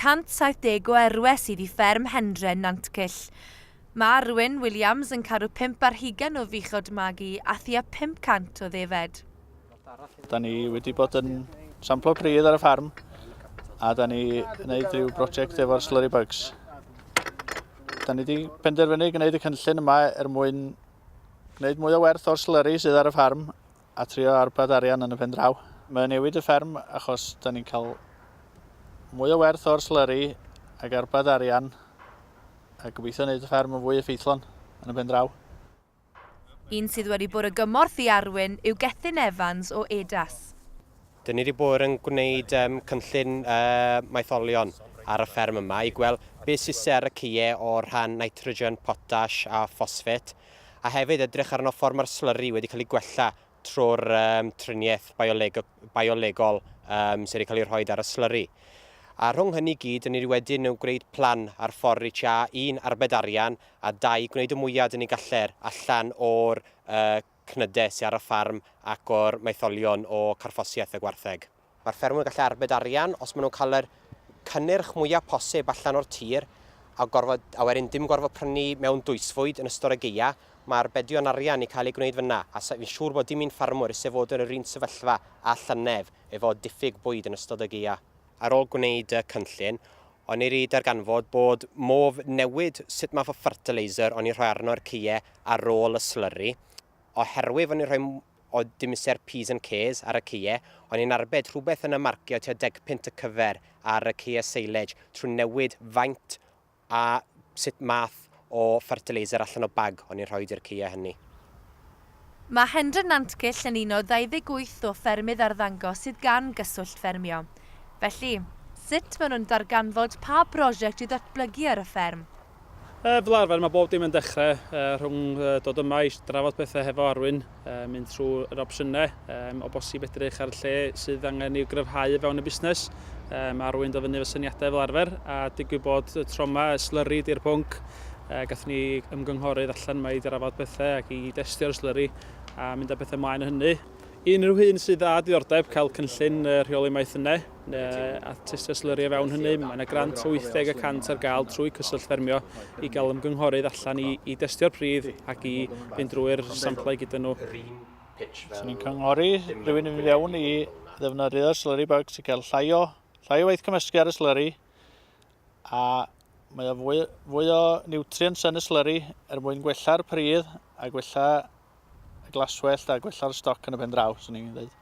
170 o erwe sydd i fferm Hendre, Nantcyll. Mae Arwyn Williams yn caru pump ar hugain o fuchod magu a thua 500 o ddefed. Da ni wedi bod yn samplo pridd ar y ffarm a da ni wneud rhyw brosiect efo'r slurry bugs. Da ni wedi penderfynu gwneud y cynllun yma er mwyn gwneud mwy o werth o'r slurry sydd ar y ffarm a trio arbed arian yn y pen draw. Mae o'n newid y fferm achos da ni'n cael mwy o werth o'r slurry ac arbed arian a gobeithio wneud y fferm yn fwy effeithlon yn y pen draw. Un sydd wedi bod o gymorth i Arwyn yw Gethin Evans o EDAS. Dyn ni wedi bod yn gwneud um, cynllun uh, maetholion ar y fferm yma i gweld beth sydd ser y ceie o'r rhan nitrogen, potash a ffosffet. a hefyd edrych arno ffordd mae'r slyri wedi cael ei gwella trwy'r um, triniaeth bioleg biolegol um, sydd wedi cael ei rhoi ar y slyri. A rhwng hynny gyd, yn ni wedyn yn gwneud plan ar ffordd i cha un arbed arian a dau gwneud y mwyaf dyn ni galler allan o'r uh, cnydau sydd ar y ffarm ac o'r maetholion o carffosiaeth y gwartheg. Mae'r ffermwyr yn gallu arbed arian os maen nhw'n cael yr cynnyrch mwyaf posib allan o'r tir a, gorfod, a wedyn dim gorfod prynu mewn dwysfwyd yn ystod y geia. Mae arbedion arian yn cael eu gwneud fyna a fi'n siŵr bod dim un ffermwr isie fod yn yr un sefyllfa â llynedd efo diffyg bwyd yn ystod y geia. Ar ôl gwneud y cynllun, o'n i 'ri darganfod bod modd newid sut math o fertiliser o'n i'n rhoi arno i'r ceie ar ôl y slurry, oherwydd o'n i'n rhoi o dimesur P's and K's ar y caeau, o'n i'n arbed rhywbeth yn y marcio tua degpunt y cyfer ar y caeau silage trwy newid faint a sut math o fertiliser allan o bag o'n i'n rhoid i'r caeau hynny. Mae Hendra Nantgylch yn un o 28 o ffermydd arddangos sydd gan Gyswllt Ffermio. Felly, sut maen nhw'n darganfod pa brosiect i ddatblygu ar y fferm? Yy, fel arfer mae bob dim yn dechrau yy, rhwng yy, dod yma i drafod pethau hefo Arwyn, yy, mynd trwy yr opsiynau, yy, o bosib edrych ar y lle sydd angen i'w gryfhau fewn y busnes. Yy, mae Arwyn do fyny efo syniadau fel arfer, a digwydd bod y tro yma, y slurry di'r pwnc. Yy, gath ni ymgynghorydd allan yma i drafod pethau ac i destio'r slurry a mynd â pethau mlaen o hynny. Unrhyw un sydd â diddordeb cael cynllun yy, rheoli maeth yna, a thystyslyru o fewn hynny. Mae yna grant o 80 y cant ar gael trwy Cyswllt Ffermio i gael ymgynghorydd allan i, i destio'r pridd ac i fynd drwy'r samplau gyda nhw. Os ni'n cynghori rhywun i fynd fewn i ddefnyddio'r slurry bag sy'n cael llai o, llai o waith cymysgu ar y slurry a mae o fwy, fwy o nutrients yn y slurry er mwyn gwella'r pridd a gwella y glaswellt a gwella'r stoc yn y pen draw, swn i'n dweud.